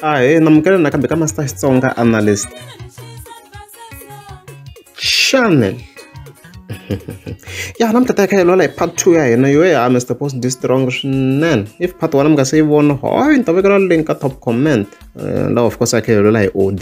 a hi namukela nakambe ka master xitsonga analyst channel ya namuntlha ta kha hi lwela hi part two ya hina yo ya mr post ndi strong swinene if part one mi nga se yi vona hoy ni ta vekela link ka top comment uh, lawa of course a kha hi lwela hi od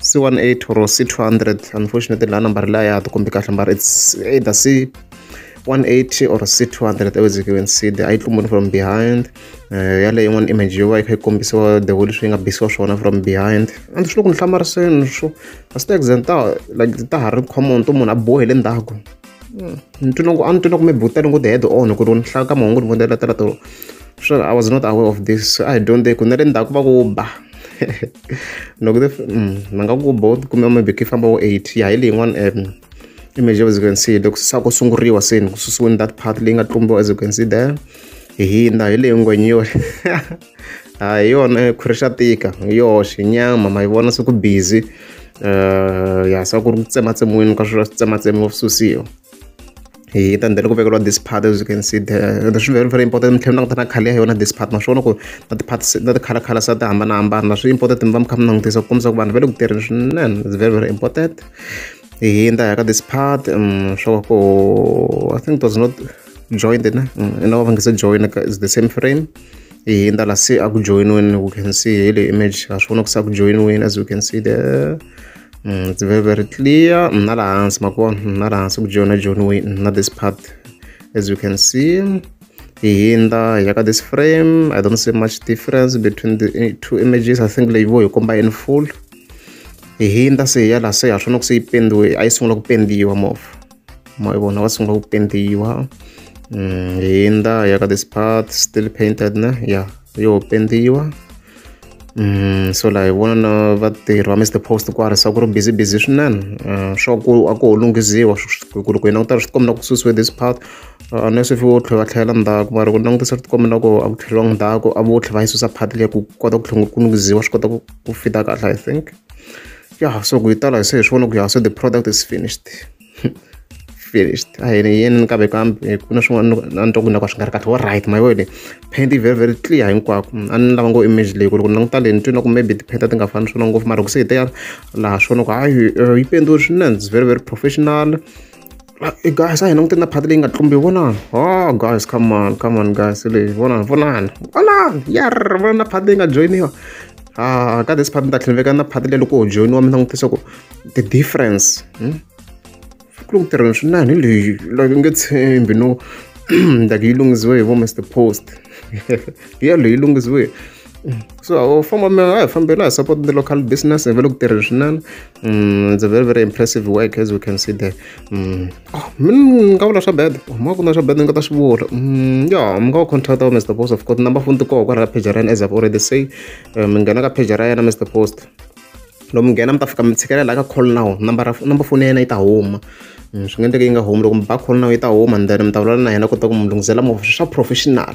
C18 or C200 unfortunately la number la ya tikombi kahle number it's either C180 or C200 as you can see the itlumuni from behind uh, eh, yale yin'wana image yo va yi kha yi kombisiwa the way leswi yi nga bisiwa swona from behind and swi loko ni hlamariseni swo a swi ta exenta like ta ha ri common to munhu a bohe le ndzhaku hmm, ni twi loko a ni twi loko mi butani ku ti-head on ku ri ni hlaya ka mahungu ni vonela tela tolo sure i was not aware of this i don't ku na le ndzhaku va ku ba loko ti hmm, ma nga ku bo kumbe maybe ki famba wo eight ya hi leyi yin'wana um image as you can see loko se sa ku sunguriwa se ni ku susiweni that part leyi nga tlumbiwa as you can see there hi hindza hi leyi ngwenyori a hi yona khwiri xa tika hi yoxe nyama ma yi vona se ku busy um ya se ku ri ku tsematsemiweni ka swilo swi tsematsemiwa swi susiwa hi ta ndlela ku vekeriwa this part as you can see there swi very very important mi tlhela mi languta na khale ya yona this part ma swi vona ku na ti-part na ti-color color sa ti hambanahambana swi important mi va mi kha mi langutisa ku kombisa ku vanhu va le ku tirheni swinene it's very very important hi hindza hi ya ka this part um swo ku i think it was not joined na no va nge se join is the same frame ehe ni ta la se a ku joyiniweni loko can see hi le image ha swi vona ku se a ku joyiniweni as you can see there mm, it's very very clear na la hansi ma kona na la hansi ku joyina joyiniweni na this part as you can see hi hindza hi ya ka this frame i don't see much difference between the eh, two images i think leyi vo hi komba in full hi hindza se hi ya la se ha swi vona ku se yi pendiwe a yi sungula ku pendiwa mova ma vona va sungula ku pendiwa mm, hi ndza ya ka this part still painted ne ya yo pendiwa Mm, so laha hi vona na vatirhi va mr post ku arisa ku ri busy busy swinene uh, swa ku a ku ho lunghiziwa ku ri ku yena ku ta ri swi tikombela ku susiwe this part uh, unless if vo tlhela va tlhelela ndzhaku mara ku langutisa swi tikombela ku a ku tlheliwa ndzhaku a vo tlhela va yi susa part leyi ku kota ku tlhela ku lunghiziwa swi kota ku ku fita kahle i think ya so ku yi tala hi se hi swi vona ku ya so the product is finished finished a hi ni yini ni kambe kambe ku na swin'wana a ni twa ku na ka swi nga ri kahle wa right my word paint very very clear hinkwako a ni lava ngo image leyi ku loko ni languta leyi ni twi na ku maybe ti-paint ti nga fani swona ngopfu mara ku se hi teya laha swona ku hayi yi pendiwe swinene it's very very professional guys a hi languteni na phati leyi nga tlumbi vonani o guys come on come on guys leyi vonani vonani vonani yar vona na phati leyi nga joyiniwa a ka this phati ni ta tlhela na phati leyi loko ho joyiniwa mi langutisa ku the difference hmm? ku loko tirheni swinene hi leyi like nge tshembi no like yi lunghisiwe hi vo mr post hi yaleyo yi lunghisiwe so u famba mi a hi fambela hi support the local business hi ve le ku tirheni swinene mm, it's a very very impressive work as we can see there mm. ah, mi nga vula swa bed oh, ma ku na swa bed ni nga ta swi vula mm, ya mi nga va contact wa mr post of course number phone ti koho kwala ka page ra yena as i've already say eh, mi nghena ka page ra yena mr post loko mi nghena mi ta fika mi tshikelela ka call now number number phone ya yena yi ta huma swi nga endleka yi nga humi loko mi ba call now yi ta huma and then mi ta vulavula na yena kota ku mi lunghisela movha swa professional